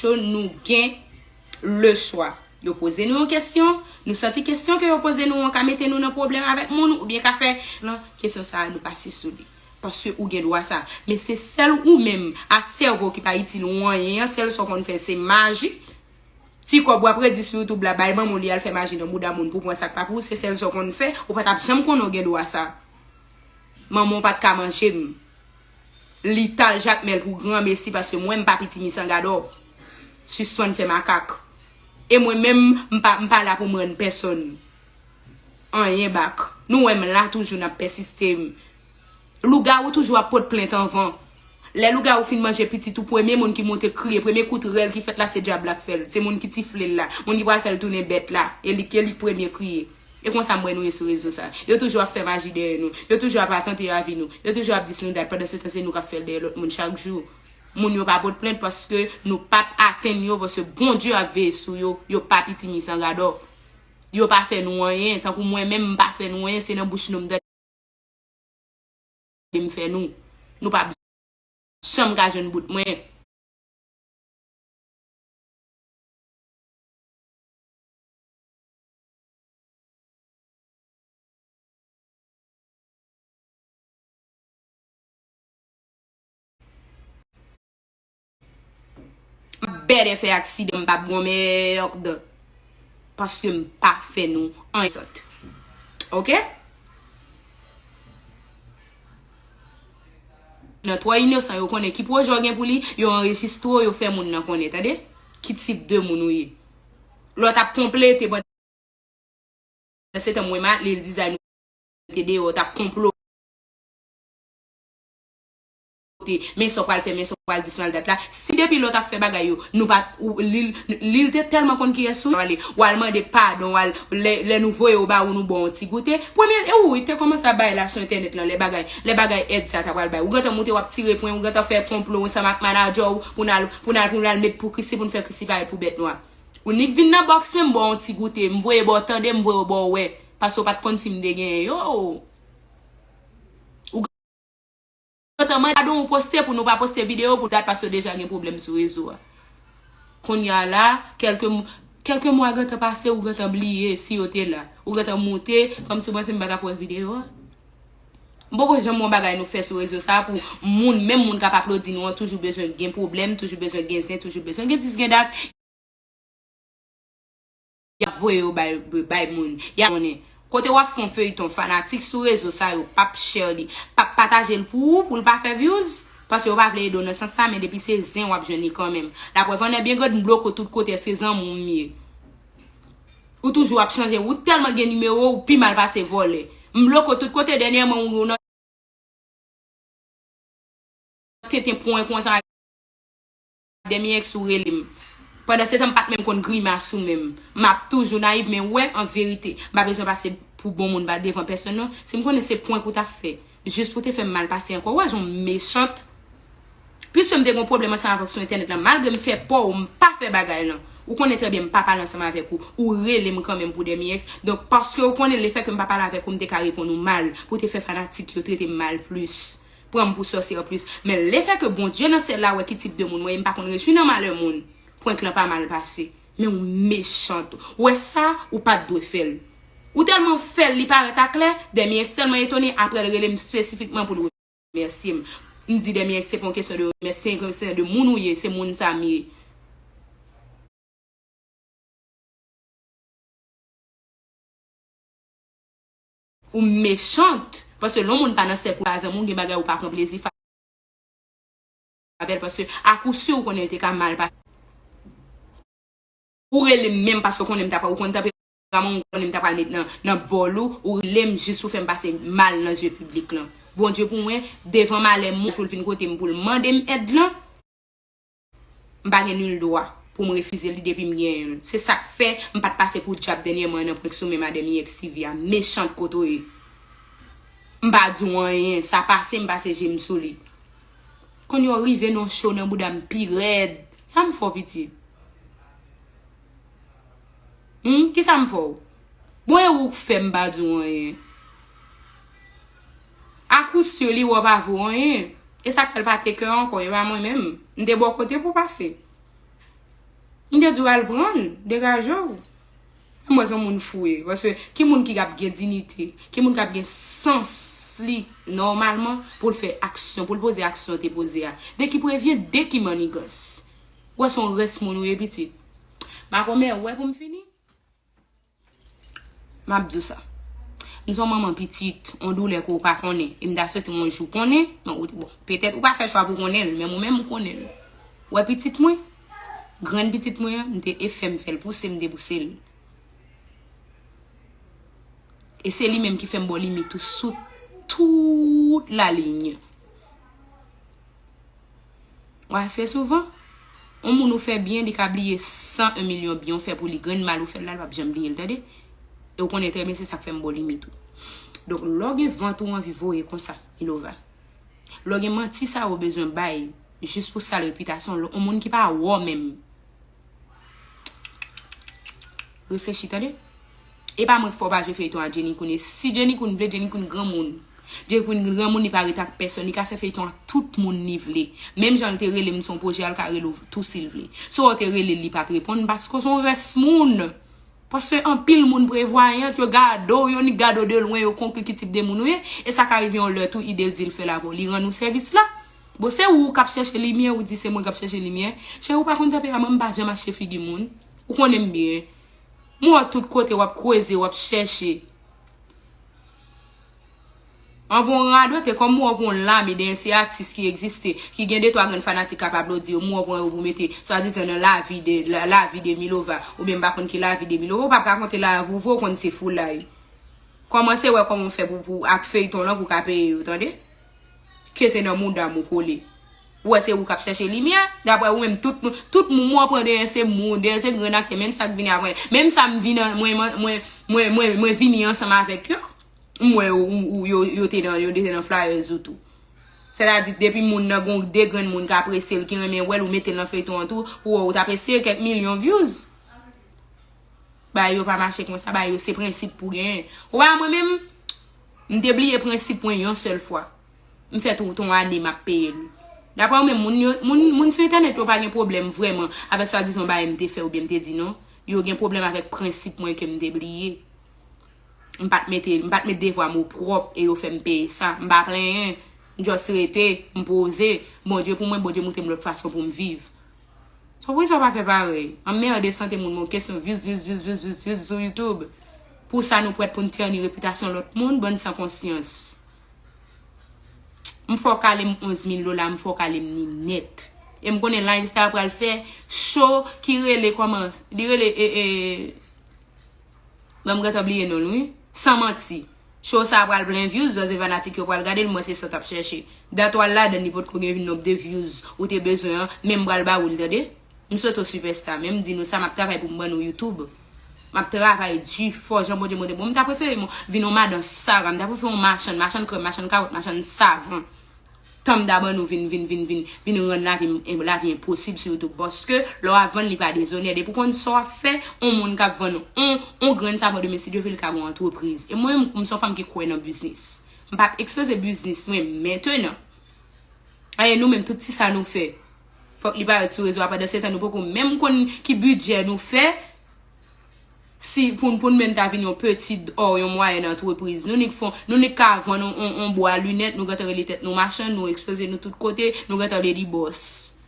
Ke nou gen le chwa. Yo poze nou yon kesyon, nou santi kesyon ke yo poze nou an ka mete nou nan pwoblèm avèk moun ou byen ka fè lan kesyon sa a nou pa si sou li. Paske ou gen dwa sa. Men se sèl ou menm a sèvo ki pa itil ou anyen an, sèl sa w konn fè se maji. Ti kòb w ap redi sou YouTube la bay banm olye al fè maji nan bouda moun pou w pran sa k pa pou ou se sèl sa w konn fè. Ou pa t ap janm konnen w gen dwa sa. Manman w pa t ka manje m. Li tal jakmel pou gran mesi paske mwen mpa piti misangadò sispann fè makak e mwen menm mpa mpa la poum rann pèsòn anyen bak nou wèm la toujou nap pèsiste lougawou toujou ap pot plent anvan lè lougawou fin manje pitit ou premye moun ki monte kriye premye kout rèl ki fèt la se djab la k fèl se moun ki tiflel la moun ki pral fèl tounen bèt la e lik e lik premye kriye. E konsa m wè nou ye sou rezo sa. Yo toujou ap fè maji dèyè nou. Yo toujou ap atante yo avi nou. Yo toujou ap dis nou dat pandansetan se nou k ap fè l dèyè lòt moun chak jou. Moun yo pa pot plent paske nou pa p atenn yo paske Bondye ap veye sou yo. Yo pa pitimi san gadò. Yo pa fè nou anyen. Tankou mwen menm m pa fè nou anyen se nan bouch nou m tande m fè nou. Nou pa p janm ka jwenn bout mwen. bèdè fè aksidan m pa p gon mèrrd paske m pa fè nou anyen sòt ok nan twò inosan yo konnen ki pwojè w gen pou li yo anrejistre w yo fè moun nan konnen tande ki tip de moun ou ye. Lot ap konplete pandan se tan mwen mately l dizay nou te deyo tap konplote men sa w pral fè men sa w pral di si mal dat la si depi lot ap fè bagay yo nou pa li l te telman konn kiyes ou ye wal mande padon wal lè nou voye w ba ou nou ba w ti goute premye e ou te komanse ap bay la sou entènèt lan lè bagay lè bagay èd sa ta pral bay ou gentan moute wap tire pwen ou gentan fè konplo ansanm ak manager w pou n al Pou n al pou n al met pou Christie pou n fè Christie pare pou bèt nwa. Ou nik vin nan box menm ba w yon ti goute. M voye ba w tande m voye w ba w wè. Pase w pat konn si m te genyen yo oo. Ou gentan mande pardon ou poste pou nou pa poste video pou dat pase yo deja gen pwoblèm sou rezo a. Konnya la kèlke kèlke mwa gentan pase ou gentan bliye si yo te la. Ou gentan moute kòmsi w panse m pa tap wè video a. M poko janm wè yon bagay nou fè sou rezo sa pou moun, menm moun k ap aplodi nou an toujou bezwen gen pwoblèm, toujou bezwen gen zen, toujou bezwen gen dis gen dat, y ap voye yo bay moun, y ap konnen. Kote w ap fè yon feyton fanatik sou rezo sa yo p ap share li, p ap pataje l pou ou, pou l pa fè vyouz, paske yo pa vle ede w nan sans sa men depi se zen w ap jwenn li kanmenm. Laprèv annè byen grande m bloko tout kote èske zanmi w m ye? Ou toujou ap chanje ou telman gen nimewo ou pi mal pase vole. M blok ou tout kote denyèman ou nan tenten pwen konsa ak demi ex ou relem. Pandan setan m pat menm konn grimas ou menm. Map toujou nayiv men wè an verite m pa bezwen pase pou bon moun ba devan pèsonn non. Si m konnen se pwenk ou tap fè. Jis pou te fèm mal pase ankò ou wè jan w mechant Pwiske m te gen yon pwoblèm ansanm avèk sou entènèt lan malgre m fè pa w m pa fè bagay lan ou konnen trè byen m pa pale ansanm avèk ou ou rele m kanmenm pou dè miyes donk paske ou konnen lefèke m pa pale avèk ou m te ka reponn ou mal pou te fè fanatik yo trete m mal plis pran m pou sòsyè plis men lefèke Bondye nan syèl la wè ki tip de moun mwen ye m pa konn rejwi nan malè moun prank lan pa mal pase. Men ou mechant ou wè sa ou pat dwe fèl ou tèlman fèl li parèt a klè Demy X tèlman etone aprèl relem spesifikman poul remèsyem m di Demy X se pa yon kesyon de remèsye se yon kesyon de moun ou ye se moun sa m ye ou mechant paske lè yon moun pa nan sèk ou pa zanmi w gen bagay ou pa pran plezi avèl paske a kou sûr ou konnen li te ka mal pase ou relem menm paske ou konnen m ta pral ou konn tanperaman m ou konnen m ta pral met nan bòl ou ou relem jis pou fèm pase mal nan zye piblik lan Bondye pou mwen devan malè m pou l vin kote m pou l mande m èd lan m pa gen nul dwa pou m refize li depi m genyen l se sak fè m pat pase pou dyab dènyèman nan prank sou men madèm i ex Sivya mechant kote w ye m pa di w anyen sa pase m pase je m sou li. Kon yo rive nan show nan bouda m pi rèd Sa m fè w piti Humm kisa m fè w Bon e ou k fè m pa di w anyen A kou sur li wè w pa vo anyen E sa k fè l pa take ankò e pa mwen menm M te bò kote pou w pase M te di w al pran l degaje w Menm wè son moun fou ye. Paske ki moun ki ap gen dinite, ki moun kap gen sans li nòmalman poul fè aksyon, poul poze aksyon te poze a. De ki prevyen, de ki mannigans. Ou wè son rès moun ou ye pitit. Makomè, ou wè poum fini. Map di w sa. M son manman pitit, on doulè ke w pa konnen. E m ta swete on jou konnen. Bon, petèt ou pa fè chwa pou konnen l, men mwen menm m konnen l. Ou wè pitit mwen? Grann pitit mwen an, m te efè m fè l pouse m depouse l. E se li menm ki fè m bo limit ou sou tout la liy. Ou ase souvan, on moun ou fè byen li ka bliye 101 milyon byen ou fè pou li, grenn mal ou fè l la, l pap janm bliye l tande. E ou konnen trè byen se sa k fè m bo limit ou. Donk lè w gen vant ou anvi voye konsa, Milova. Lè w gen manti sa yo w bezwen bay jis pou sal repitasyon w, yon moun ki pa wè w menm. Reflechi tande. E pa mwen k fè w pa jwe feyton a Jenny Koune. Si Jenny Koune vle, Jenny Koune granmoun. Jenny Koune granmoun li pa ret ak pèsòn. Li ka fè feyton ak tout moun li vle. Menm jan li te rele m son pwojè a, li ka rele w tou si l vle. Si w wè w te rele l li pa t reponn paske w son rès moun. Paske anpil moun prevwayant, yo gade w, yo nik gade w de lwen, yo konkli ki tip de moun ou ye, e sa ka rive yon lè tou ide l di l fè l avè w, li rann ou sèvis la. Bon, se ou k ap chèche limyè, ou di se mwen k ap chèche limyè. Cheri, ou pa konn tanperaman m, m pa janm achte figi moun. Ou konnen m byen. M wè w tout kote, w ap kweze, w ap chèche. Anvan w radote, kòm mwen wè pou yon lame de enseye atis ki egziste, ki gen detwa grenn fanatik k ap aplodi yo, mwen wè pou yon pou mete swadizan nan lavi de, lavi de Milova, oubyen m pa konn ki lavi de Milova, ou pa p rakonte lavi ou vre, ou konn se foulay. Kòmanse wè kòman w fè pou, pou ak feyton lan pou w ka peye yo, tande. Ke se nan mouda m ou kole. Ou wè se ou k ap chèche limyè, daprè ou menm tout moun, tout moun mwen pran de yon se moun, de yon se grenn aktè, menm sa k vini apre, menm sa m vin an, mwen, mwen, mwen, mwen vini ansanm avèk yo. M wè ou yo te nan yo te nan flyers ou tou. Sè ta di depi moun nan gon 2 grenn moun k apresye l ki renmen wè l ou mete l nan feyton an tou pou wè ou ta apresye kèk milyon vyouz. Bagay yo pa mache konsa bagay yo se prensip pou genyen. Ou pa wè mwen menm m te bliye prensip mwen yon sèl fwa. M fè tout on ane m ap peye l. Daprè ou menm moun yo moun sou entènèt yo pa gen pwoblèm vrèman avèk swadizan bagay m te fè oubyen m te di non. Yo gen pwoblèm avèk prensip mwen ke m te bliye. M pa t mete, m pa t met devwa m opwòp e yo fè m peye sa. M pa plenyen. M just rete, m poze. Bondye pou mwen, Bondye moutre m lòt fason pou m viv. So poukisa w pa fè parèy? Anmerde sante moun moun kesyon views, views, views, views, views, views sou YouTube. Pou sa nou prèt pou n tèni repitasyon lòt moun? Bann san konsyans. M fòk ale m 11 mil dola, m fòk ale m ni nèt. E m konnen live sa pral fè show ki rele kòman? Li rele e e. Menm gentan bliye nonl wi. San manti. Show sa pral plen views dòzè fanatik yo pral gadel mwen se sa tap chèche. Dat wal ladann li potko gen nomb de views ou te bezwen an menm pral ba oul tande. M swete w super star menm di nou sa map travay poum ban nou youtube. Map travay di fò jan Bondye monte poum ta preferem vin yon madan Sara m ta preferem yon machann, machann krèm, machann kawòt, machann savon. Tanm da ban nou vin vin vin vin vin rann lavi m lavi enposib sou youtube paske lè wap vann li pa dezonè depi w konn sa wap fè on moun kap vann on on grenn savon demen si Dye vle li ka gon antrepriz e mwen menm m son fanm ki kwè nan biznis m pap ekspoze biznis mwen mentenan e nou menm tout ti sa nou fè fòk li parèt sou rezo a pandansetan nou poko menm konn ki bidjè nou fè. si pou pou n menm ta vin yon petid or yon mwayèn antrepriz, nou nik fon, nou nik ka vann on on on bwa linèt, nou gentan rele tèt nou machann, nou ekspoze nou tout kote, nou gentan lady boss.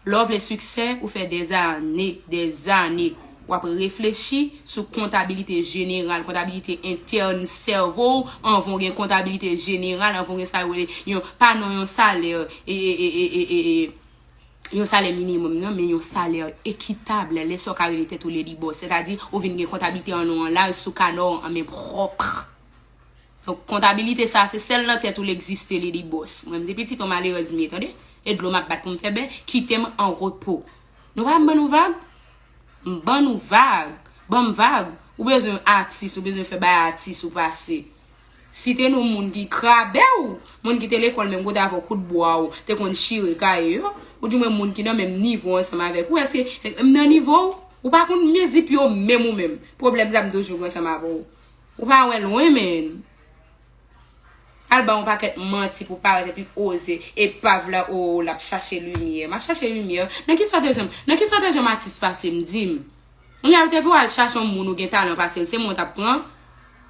Lè w vle siksè, ou fè dèzane, dèzane, w ap reflechi sou kontabilite jeneral, kontabilite entèn sèvo w anvan w gen kontabilite jeneral, anvan w gen sa yo rele yon pa non yon salè e e e e e e. yon salè minimòm nan, men yon salè ekitab lè sa w ka rele tèt ou lady boss. Sètadi, ou vin gen kontablite an non an laj sou kanò w an men pwòp. Donk, kontabilite sa a, se sèl nan tèt ou l egziste lady boss. Mwen m se pitit yon malerèz m ye tande. E dlo m ap bat pou m fè bè, kite m an repo. Nou pa wè m ban nou vag? M ban ou vag, ban m vag, ou bezwen atis, ou bezwen fè bay atis ou pase. Site non moun ki krabè w, moun ki te lekòl menm kote avè w, kout bwa w te konn chire kaye yo, ou di mwen moun ki nan menm nivo ansanm avèk ou, èske m nan nivo w? Ou pa konn mezi pye w menm ou menm, pwoblèm sa m toujou gen ansanm avè w. Ou pa wè lwen menn. Al bay yon pakèt manti pou parèt epi oze epav la oo lap chache limyè map chache limyè nan ki stratagem nan ki stratagem atis pasem dim kounya yo te vle w al chache yon moun ou gen talan pasel se mwen w tap pran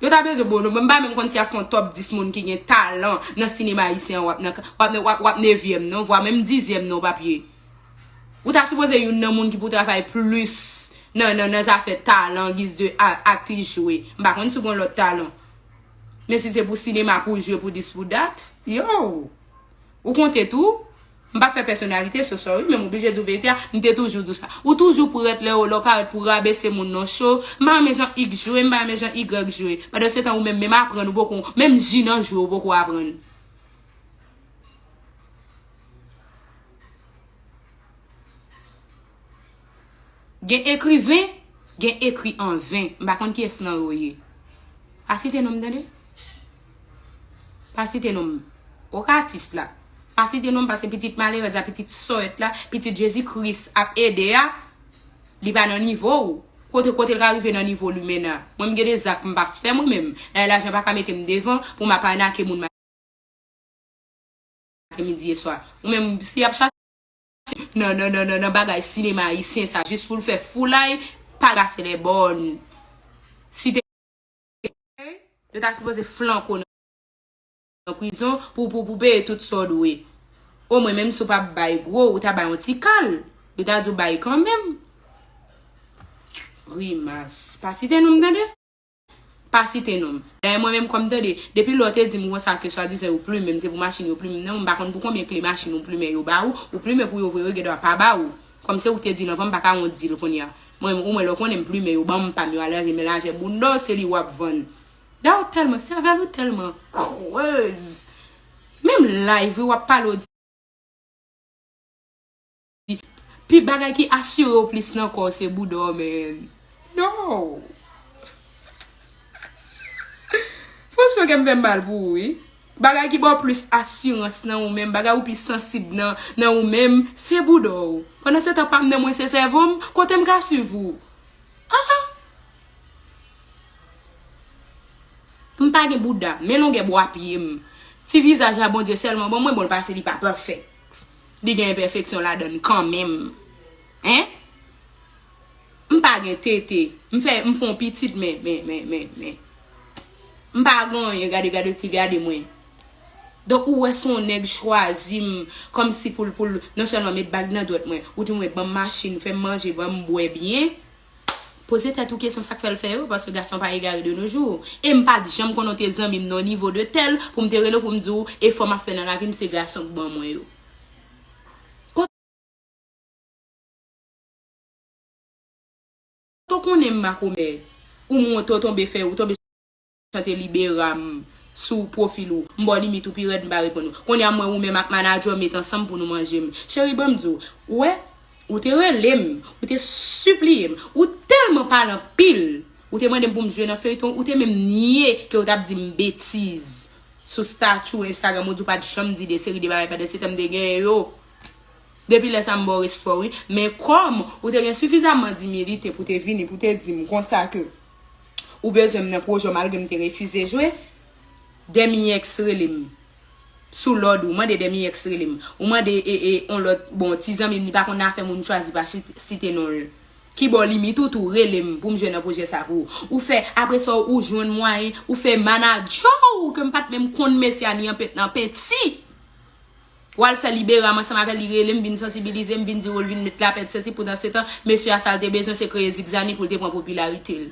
yo ta bezwen bon mwen m pa menm konn si yap fè yon top 10 moun ki gen talan nan sinema ayisyen an wap nan wap wap wap nevyèm non vwa menm dizyèm non w pap ye ou ta sipoze youn nan moun ki pou travay plis nan nan nan zafè talan giz de a atis jwe m pa konn si w gen lòt talan. Men si se pou sinema pou w jwe pou dis pou dat, yoww! Ou konte tou? M pa fè pèsonalite, so sorry, men m oblije di w verite a, m te toujou di w sa. Ou toujou prèt lè w la, w parèt pou w rabese moun non cho. M pa renmen jan X jwe, m pa renmen jan Y jwe. Pandansetan ou menm, menm aprann ou poko, menm ji nan jwe ou poko aprann. Gen ekriven, gen ekri an ven. M pa konn kiyès nan yo ye. Pa site non m tande. Pa site non m. Ok atis la. Pa site non m paske pitit malerèz la, pitit sòèt la, pitit Jezi Kris ap ede a, li pa nan nivo ou. Kote kote l ka rive nan nivo limena. Mwen m gen de zak m pa fè mwen menm. Dayè lajan pa ka mete m devan pou m ap anake moun maten midi e swa. Ou menm si y ap chache. nan nan nan nan bagay sinema ayisyen sa jis pou l fè foulay pa gase lè bòn si te gen yo ta sipoze flank ou nan prizon pou pou pou peye tout sa w dwe o mwen menm si w pa bay gwo ou ta bay yon ti kal yo ta di w bay kanmenm grimas pa site non m tande. Pa site non m. Dayè mwen menm kòm m tande, depi lè w te di m konsa ke swadizan yo plumen m, se pou machin yo plumen m, nan m pa konn pou konbyen kle machin ou plumen yo ba ou, ou plumen pou yo vre yo gen dwa pa ba ou. Kòm se ou k te di l anvan m pa ka wont di l kounye a. Mwen menm ou mwen lè w konnen m plumen yo ban m pa m yo alanje men lajè bounda w se li w ap vann. Dayè w tèlman, sèvèl ou tèlman creuse. Menm live wi w ap pale w di. Pi bagay ki asire w plis nan kò w se bouda w men non. Franchman kè m fè m mal pou ou wi. Bagay ki ba w plis asirans nan ou menm, bagay ou pi sansib nan nan ou menm se bouda w. Pandansetan pa m nan mwen se sèvo m, kote m ka swiv ou? Aa! M pa gen bouda, men longè bwa pye m. Ti vizaj la Bondye sèlman ban mwen, bon l pase li pa pafè. li gen enpèfeksyon ladan l kan menm hein m pa gen tete m fè m fon pitit men men men men men m pa gen anyen gade gade fi gade mwen donk ou wè son nèg chwazi m kòmsi pou l pou l non sèlman met bag nan dwèt mwen ou di mwen banm machin fè m manje banm bwè byen Poze tèt ou kesyon sak fèl fè yo paske gason pa egare de nos jours em pat janm konnen ou te zanmim nan yon nivo de tèl poum te relew poum diw efò map fè nan lavim se gason k ban mwen yo. Kote w konnen m makomè ou m wont ou tonbe fè ou tonbe. chante liberam sou profil ou m baw limit ou pi rèd m pa reponn ou konnya m wè ou menm ak manager w met ansanm pou nou manje m cheri banm di w wè ou te rele m ou te sipliye m ou tèlman pale anpil ou te mande m pou m jwe nan feyton ou te menm nye ke ou tap di m betiz sou statut ou instagram ou di w pat janm di de seri de bagay pandan se tan m te genyen yo depi lè sa m baw respè w wi men kòm ou te gen sifizamman dimilite pou te vini pou te di m konsa ke. Ou bezwen m nan pwojè w malgre m te refize jwe? Dèmiyèx rele m Sou lòd ou mande Dèmiyèx rele m Ou mande on lòt bon ti zanmi m li pa konn afè moun m chwazi pa site non l Ki ba w limit ou tou rele m pou m jwe nan pwojè sa pou ou Ou fè apre sa ou jwenn mwayen ou fè manadjè w ke m pa t menm konn mesye a ni anpent nan penti Ou al fè libera m ansanm avè l li rele m vin sansibilize m vin di wou l vin met lapè etc poudansetan mesye a sa l te bezwen se kreye zigzani pou l te pran popilarite l.